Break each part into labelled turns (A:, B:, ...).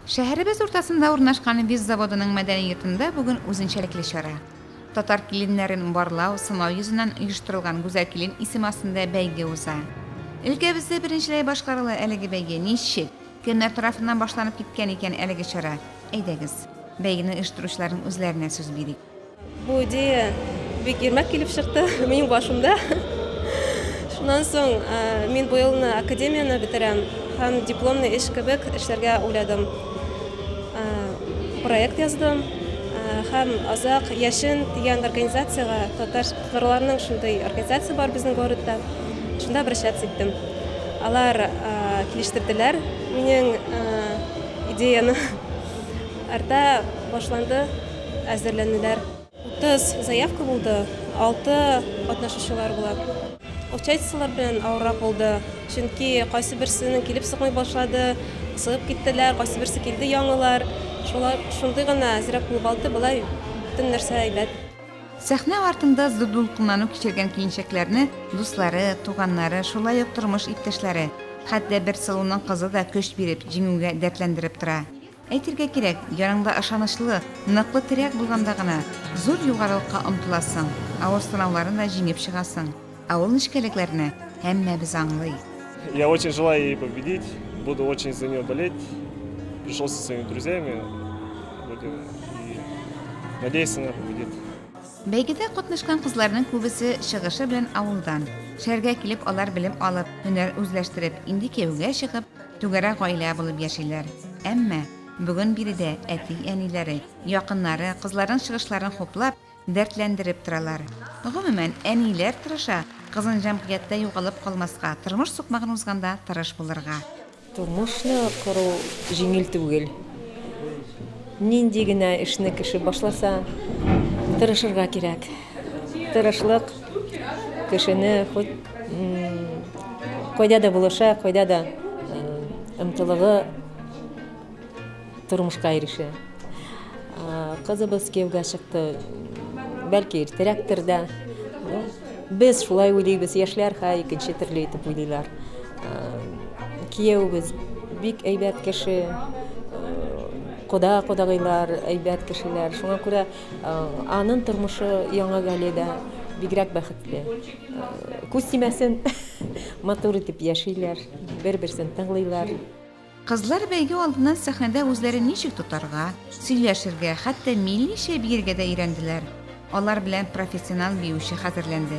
A: Шәһәребез уртасында урнашкан Виз заводының мәдәни йортында бүген үзенчәлекле чара. Татар киленнәрен барлау, сынау йөзеннән оештырылган Гүзәл килен исеме астында бәйге уза. Өлкәбездә беренчеләй башкарыла әлеге бәйге. Ничек, кемнәр тарафыннан башланып киткән икән әлеге чара? Әйдәгез, бәйгене оештыручыларның үзләренә сүз бирик. Бу идея
B: бик ирмәк килеп чыкты минем башымда. Шуннан соң э, мин бу елны академияне бетерәм һәм дипломный эш кебек эшләргә уйладым. Э, проект яздым э, һәм Азак яшен дигән организациягә татар нурларның шундый организация бар безнең городта. Шунда обращаться иттем. Алар килештерделәр минем идеяны. Арта башланды әзерләнүләр. Утыз заявка булды, алты катнашучылар була. Участиелар белән авыррак булды, чөнки кайсыберсенең килеп сыкмый башлады, сыгып киттеләр, кайсыберсе килде яңалар. Шулай, шундый гына әзрәк булып алды, болай бөтен нәрсә әйбәт. Сәхнә
A: артында зур дулкынлану кичергән киенчәкләрне дуслары, туганнары, шулай ук тормыш иптәшләре, хәтта бер сылуның кызы да көч биреп, җиңүгә дәртләндереп тора. Әйтергә кирәк, яныңда ышанычлы, ныклы терәк булганда гына зур югарылыкка омтыласың, авыр сынауларны да җиңеп чыгасың. Ә ул нечкәлекләрне һәммәбез аңлый. Я очень
C: желаю ей победить, буду очень за нее болеть, пришел со своими друзьями, будем и надеяться она победит. Бәйгедә
A: катнашкан кызларның күбесе чыгышы белән авылдан. Шәһәргә килеп алар белем алып, һөнәр үзләштереп, инде кияүгә чыгып, Түгәрәк гаилә булып яшиләр. Әмма бүген биредә әти-әниләре, якыннары кызларның чыгышларын хуплап, дәртләндереп торалар. Гомумән, әниләр тырыша, кызын җәмгыятьтә югалып калмаска, тормыш сукмагын узганда тырыш булырга. Тормышны
D: кору җиңел түгел. Нинди генә эшне кеше башласа, тырышырга кирәк. Тырышлык кешене хут кайда да булыша, кайда да ымтылыгы тормышка ирешә. Кызыбыз кияүгә чыкты, бәлки иртәрәктер дә. Без шулай уйлыйбыз, яшьләр ха икенче төрле итеп уйлыйлар. Кияүбез бик әйбәт кеше, кода кодагыйлар әйбәт кешеләр. Шуңа күрә Анын тормышы яңа галиядә бигрәк бәхетле. Күз тимәсен, матур итеп яшиләр, бер-берсен тыңлыйлар. Кызлар
A: бәйге алдыннан сәхнәдә үзләрен ничек тотарга, сөйләшергә, хәтта милли чәй биергә дә өйрәнделәр. Алар белән профессионал биюче хәзерләнде.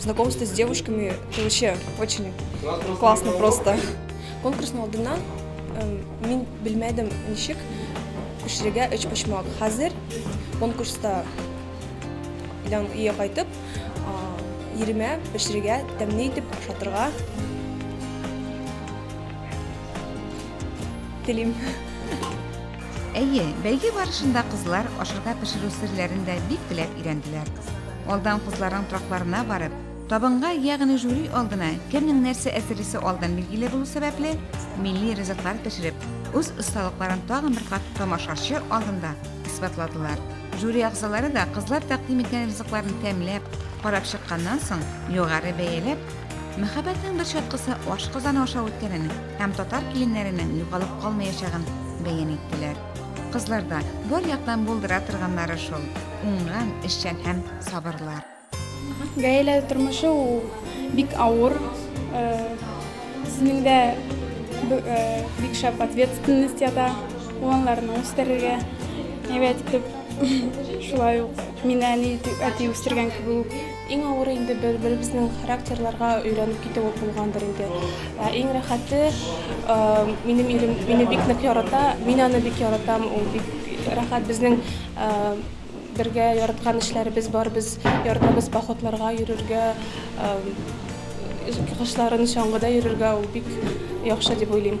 B: Знакомство с девушками – это вообще очень классно просто. Конкурсның алдына мин белмәдем ничек күчерергә өч почмак. Хәзер конкурста белән өйгә кайтып, иремә пешерергә, тәмле итеп ашатырга телим.
A: Әйе, бәйге барышында кызлар ашырга пешерү серләрен дә бик теләп өйрәнделәр. Алдан кызларның тракларына барып, табынга, ягъни жюри алдына кемнең нәрсә әзерлисе алдан билгеле булу сәбәпле, милли ризыклар пешереп, үз осталыкларын тагын бер кат тамашачы алдында исбатладылар. Жюри әгъзалары да кызлар тәкъдим иткән ризыкларны тәмләп, карап чыкканнан соң, югары бәяләп, Мәхәббәтнең бер чаткысы ашказаны аша үткәнен, һәм татар киленнәренең югалып калмаячагын бәян иттеләр. Кызларда бар яктан булдыра торганнары шул, уңган, эшчән һәм сабырлар. Гаилә
E: тормышы ул бик авыр. Безнең дә бик шәп ответственность ята. Уланларны үстерергә әйбәт итеп, шулай ук мине әни әти үстергән кебек үк. Иң авыры инде
B: бер-беребезнең характерларга өйрәнеп китүе булгандыр инде. Ә иң рәхәте, минем ирем мине бик нык ярата, мин аны бик яратам, ул бик рәхәт безнең бергә яраткан эшләребез бар, без яратабыз походларга йөрергә, кышларын чаңгыда йөрергә, ул бик яхшы дип уйлыйм.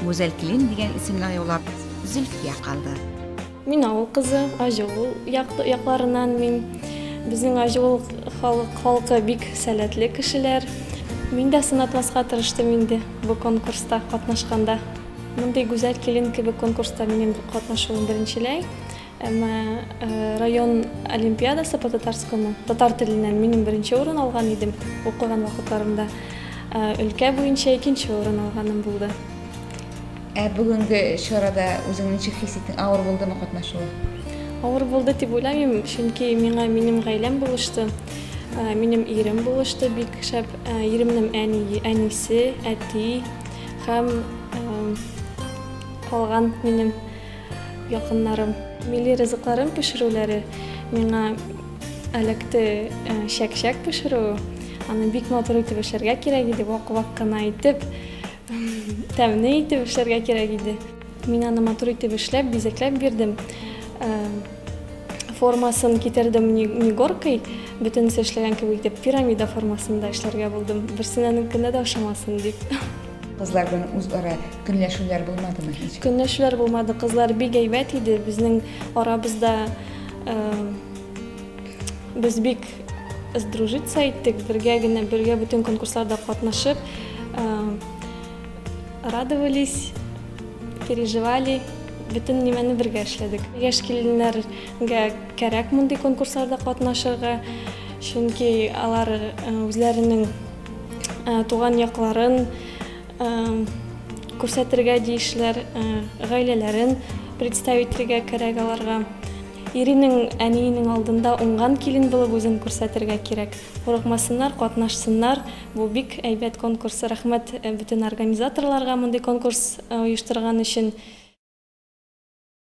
A: Гүзәл килен дигән исемне аюлап, Зөлфия калды. Мин авыл
F: кызы, Аҗыул якларыннан мин. Безнең Аҗыул халык, халкы бик сәләтле кешеләр. Мин дә сынатмаска тырыштым инде бу конкурста катнашканда. Мондый гүзәл килен кебек конкурста минем катнашуым беренчеләй. Әмма район олимпиадасы по татарскому татар теленнән минем беренче урын алган идем укыган вакытларымда. Өлкә буенча икенче урын алганым булды. Ә
A: бүгенге чарада үзең ничек хис иттең? Авыр булдымы катнашуы? Авыр булды
F: дип уйламыйм, чөнки миңа минем гаиләм булышты. Минем ирем булышты бик шәп. Иремнең әни, әнисе, әти һәм калган минем Якыннарым, милли ризыкларын пешерүләре миңа әләкте чәк-чәк пешерү, аны бик матур итеп эшләргә кирәк иде, вак-вак кына итеп, тәмле итеп эшләргә кирәк иде. Мин аны матур итеп эшләп, бизәкләп бирдем. Формасын китердем не горкой, бөтенесе эшләгән кебек итеп, пирамида формасында эшләргә булдым. Берсенә ненкендә дә ошамасын дип. Кызлар белән
A: үзара көнләшүләр булмадымы һич? Көнләшүләр булмады.
F: Кызлар бик әйбәт иде. Безнең арабызда э, без бик сдружиться иттек. Бергә генә, бергә бөтен конкурсларда катнашып, э, радовались, переживали. Бөтен нимәне бергә эшләдек. Яшь киленнәргә кәрәк мондый конкурсларда катнашырга, чөнки алар э, үзләренең Э, туган якларын э, күрсәтергә диешләр э, гаиләләрен представительгә кирәк аларга иринең әниенең алдында уңган килен булып үзен күрсәтергә кирәк курыкмасыннар катнашсыннар бу бик әйбәт конкурс рәхмәт бөтен организаторларга мондый конкурс оештырган өчен